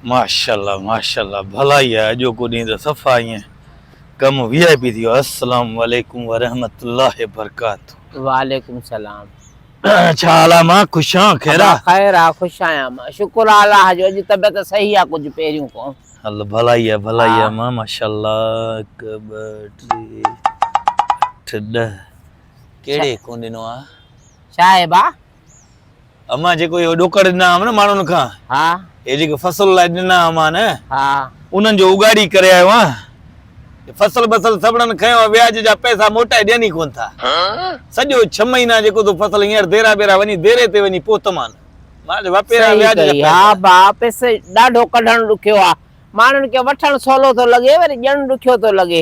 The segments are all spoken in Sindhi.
ماشاءالله ماشاءالله ڀلائي آ اڄوڪو ڏينهن ته صفا ائين ڪم وي آء پي ٿي ويو السلام عليڪم ورحمت الله برڪاته. وعليڪم السلام ڇا حال آ مان خوش آن خير آ. خير آ خوش آهيان مان شڪر آ الله جو اڄ طبيعت صحيح آ ڪجهه پهريون کان. هل ڀلائي آ ڀلائي آ مان ماشاءالله هڪ ٻه ٽي اٺ ڏهه ڪهڙي ڪون ڏنو آ. شاهه با. امان جيڪو اهو ڏوڪڙ ڏنا هئم نه ماڻهن کان ها هي جيڪي فصل لاء ڏنا امان ها انهن جو اگاڙي ڪري آيو آهيان فصل بصل سڀڙن کنيو آهي وياج جا پئسا موٽائي ڏين ئي ڪون ٿا سڄو ڇهه مهينا جيڪو تو فصل هينئر ديرا بيرا وڃي ديري تي وڃي پهتم آن ماڻهن وپيرا وياج جا پئسا ها ڀا پئسو ڏاڍو ڪڍڻ ڏکيو آهي ماڻهن کي وٺڻ سولو ٿو لڳي وري ڏيڻ ڏکيو ٿو لڳي.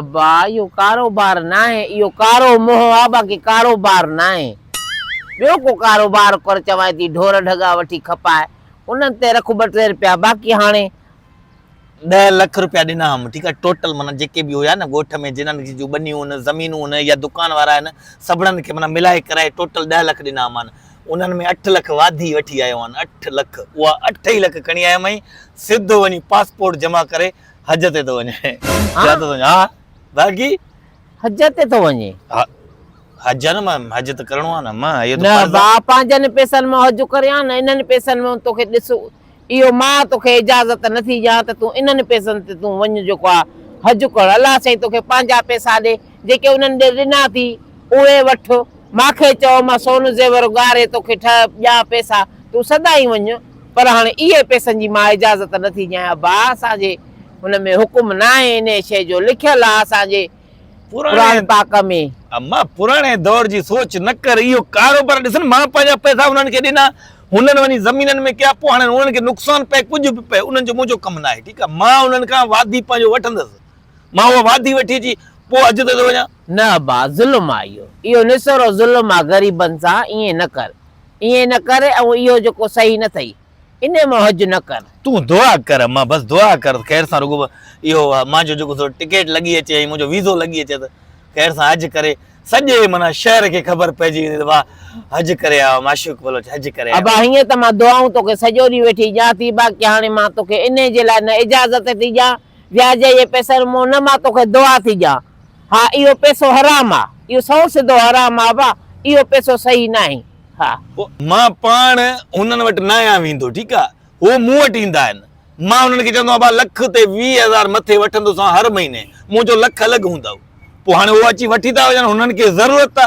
ابا اهو ڪاروبار ناهي اهو ڪارو منهن آ باقي ڪاروبار ناهي ٻيو ڪو ڪاروبار ڪر چوانء ٿي ڍور ڍڳا وٺي کپائي انهن تي رک ٻه ٽي رپيا باقي هاڻي ڏهه لک رپيا ڏنا هئم ٺيڪ آهي ٽوٽل معنيٰ جيڪي به هيا نه ڳوٺ ۾ جنن جي جون ٻنيون هن زمينون هن يا دڪان وارا هن سڀڙن کي معنيٰ ملائي ڪرائي ٽوٽل ڏهه لک ڏنا هئمان انهن ۾ اٺ لک واڌي وٺي آيو هئان اٺ لک اها اٺ ئي لک کڻي آيم ۽ سڌو وڃي پاسپورٽ جمع ڪري حج تي ٿو وڃي ڇا ٿو سمجهين ها باقي حج تي ٿو وڃي حج نه مان حج ته ڪرڻو آ نه مان اهو ته نه فرض با آ پنهنجن پيسن مان حج ڪري ها نه انهن پيسن ۾ توکي ڏس اهو مان توکي اجازت نه ٿي ڏيان ته تون انهن پيسن تي تون وڃ جيڪو آ حج ڪرڻ الله سائين توکي پنهنجا پيسا ڏي جيڪي انهن ڏي ڏنا ٿي، اهي وٺ. ما کي چئو، مان سون زيور ڳاڙهي تو کي ٺهه ڏيان پئسا، تون سدائين وڃ. پر هاڻي اهي پئسن جي مان اجازت نه ٿي ڏيان. ابا! اسان جي ان ۾ حڪم نه آهي، انهيء شيء جو لکيل آهي اسان جي قرآن پاڪ ۾. اما! پراڻي دور جي سوچ نه ڪر. اهو ڪاروبار ڏسن، مان پنهنجا پئسا انهن کي ڏنا، هنن وڃي زمينن ۾ ڪيا، پوء هاڻي انهن کي نقصان پئي ڪجهه به پئي، انهن جو منهنجو ڪم نه آهي. ٺيڪ آهي، مان انهن کان واڌي پنهنجو وٺندس. مان اها وادي وٺي اچي پوء حج تي ٿو وڃان. نه ابا، ظلم آ اهو. اهو نسورو ظلم آ غريبن سان، ائين نه ڪر. ائين نه ڪر ۽ اهو جيڪو صحيح نه ٿئي. انهي مان حج نه ڪر. تون دعا ڪر اما، بس دعا ڪر ته خير سان رڳو اهو مان جو جيڪو سو ٽڪيٽ لڳي اچي ۽ منهنجو ويزو لڳي اچي ته خير سان حج ڪري سڄي معنيٰ شهر کي خبر پئجي ويندي ته واهه حج ڪري آيو آ معشوق بلوچ حج ڪري آيو آ. ابا هيئن ته مان دعائون توکي سڄو ڏينهن ويٺي ڏيان ٿي باقي هاڻي مان توکي انهي جي لاء نه اجازت ٿي ڏيان. وياج جي پئسن مان نه مان توکي دعا ٿي ڏيان. ها اهو پئسو حرام آ. اهو سئو سڌو حرام آ ابا. اهو پئسو صحيح ناهي. ها. مان پاڻ هنن وٽ ناهيان ويندو ٺيڪ آ. هو مون وٽ ايندا آهن. مان هنن کي چوندو آهيان ابا لک تي ويهه هزار مٿي وٺندوسان هر مهيني. منهنجو لک الڳ هوندو. پوء هاڻي هو اچي وٺي ٿا وڃن هنن کي ضرورت ته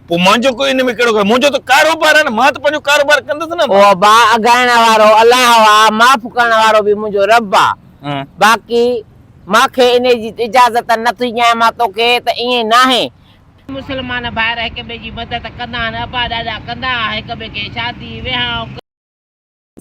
پوء منهنجو ڪو ان ۾ ڪهڙو ڪري منهنجو ته ڪاروبار آهي نه مان ته پنهنجو ڪاروبار ڪندس نه. هو با اگهائڻ وارو الله آ معاف ڪرڻ وارو به منهنجو رب آ باقي مان کي انهي جي اجازت نه ٿي ڏيان مان توکي ته ائين ناهي. مسلمان ڀائر هڪ ٻئي جي مدد ڪندا آهن ابا ڏاڏا ڪندا آهن هڪ ٻئي کي شادي ويهانء.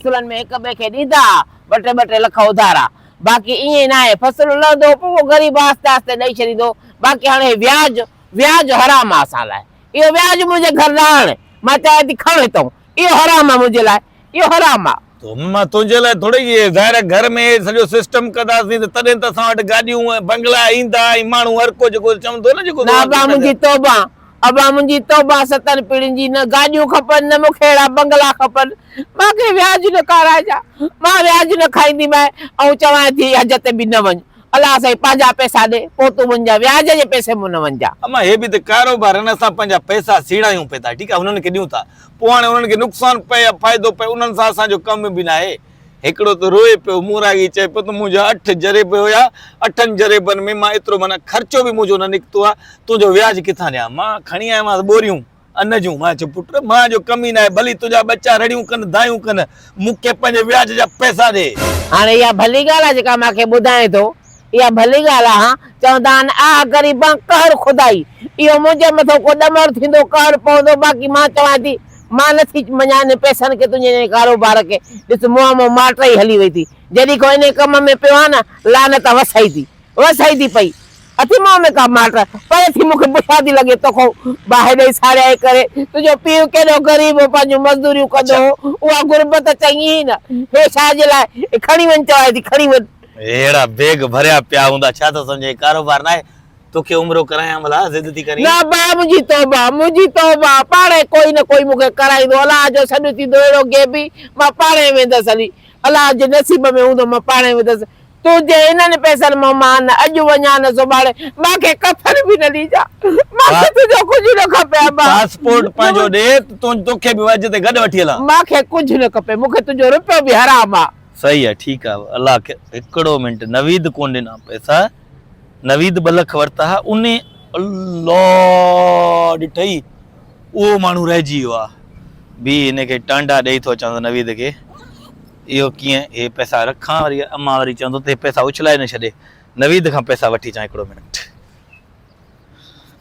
فصلن ۾ هڪ ٻئي کي ڏيندا ها ٻه ٽي ٻه ٽي لک اڌارا باقي ائين ئي ناهي فصل لهندو پوء اهو غريب آهستي آهستي ڏئي ڇڏيندو باقي هاڻي هي وياج وياج حرام آهي اسان لاء اهو وياج منهنجي گهر نه آڻ مان چاهيان ٿي کڻ هتئون اهو حرام آهي منهنجي لاء اهو حرام آهي. تون مان تنهنجي لاء ٿورڙي اهي ظاهر آهي گهر ۾ سڄو سسٽم ڪنداسين ته تڏهن ته اسان وٽ گاڏيون ۽ بنگلا ايندا ۽ ماڻهو هرڪو جيڪو چوندو نه جيڪو نه ابا منهنجي توبه. ابا منهنجي توبه ستن پيڙهين جي نه گاڏيون کپن نه مون کي اهڙا بنگلا کپن مان کي وياج نه کارايجان مان وياج نه کائيندي ماء آئون چوانء ٿي حج تي به نه وڃ الله سائين پنهنجا پئسا ڏي پوء تون وڃجان وياج جي پئسي مون نه وڃجان. اما هي به ته ڪاروبار آهن اسان پنهنجا پئسا سيڙايون پئي ٿا ٺيڪ آهي هنن کي ڏيون ٿا پوء هاڻي هنن کي نقصان پئي يا فائدو پئي انهن سان اسان جو ڪم به ناهي. هڪڙو ته روئي پيو. مون راڳي چئي پيو ته منهنجا اٺ جريب هيا، اٺن جريبن ۾ مان ايترو معنيٰ خرچو به منهنجو نه نڪتو آ، تنهنجو وياج ڪٿان ڏيان؟ مان کڻي آيومانس ٻوريون ان جون. مان چيو پٽ مان جو ڪم ئي ناهي، ڀلي تنهنجا ٻچا رڙيون ڪن، دانهيون ڪن، مون کي پنهنجي وياج جا پئسا ڏي. هاڻي اها ڀلي ڳالهه آ جيڪا مان کي ٻڌائين ٿو، اها ڀلي ڳالهه آهي هان! چوندا آهن، آهه غريبان! قهر خدائي! اهو منهنجي مٿو ڪو ڏمر ٿيندو، قهر پوندو، باقي مان چوان ٿي، مان نه ٿي مڃان انهن پئسن کي، تنهنجي انهيء ڪاروبار کي، ڏس منهن مان ماٽ ئي هلي وئي ٿي، جڏهين کان انهيء ڪم ۾ پيو آهيان نه، لعنت وسائي ٿي، وسائي ٿي پئي، اٿئي منهن ۾ ڪا ماٽ، پري ٿي مون کي بڇا ٿي لڳي، توکان باهه ڏئي ساڙيائي ڪري، تنهنجو پيء ڪيڏو غريب هو، پنهنجون مزدوريون ڪندو هو، اها غربت چڱي هئي نه، هي شاهه جي لاء، کڻي وڃ چوان ٿي، کڻي وڃ. ههڙا بيگ ڀريا پيا هوندا ڇا ٿو سمجهين ڪاروبار ناهي توکي عمرو ڪرايان ڀلا ضد ٿي ڪرين. نه ڀاء منهنجي توبه منهنجي توبه پاڻهي ڪوئي نه ڪوئي مونکي ڪرائيندو الله جو سڏ ٿيندو اهڙو غيبي مان پاڻهي ويندس علي الله جي نصيب ۾ هوندو مان پاڻهي ويندس تنهنجي انهن پئسن مان مان نه اڄ وڃان نه سڀاڻي مانکي ڪفن به نه ڏيجان مانکي تنهنجو ڪجهه نه کپي ابا پاسپورٽ پنهنجو ڏي توکي به اڄ تي گڏ وٺي هلان. مانکي ڪجهه نه کپي مونکي تنهنجو روپيو به حرام آ. صحيح آ ٺيڪ آ الله کي هڪڙو منٽ نويد ڪون ڏنا پئسا نويد ٻه لک ورتا ها انهي الله ڏٺئي اهو ماڻهو رهجي ويو آ بي هن کي ٽانڊا ڏئي ٿو چوانس نويد کي اهو ڪيئن هي پئسا رکان وري امان وري چوندو ته هي پئسا اڇلائي نه ڇڏي نويد کان پئسا وٺي چان هڪڙو منٽ.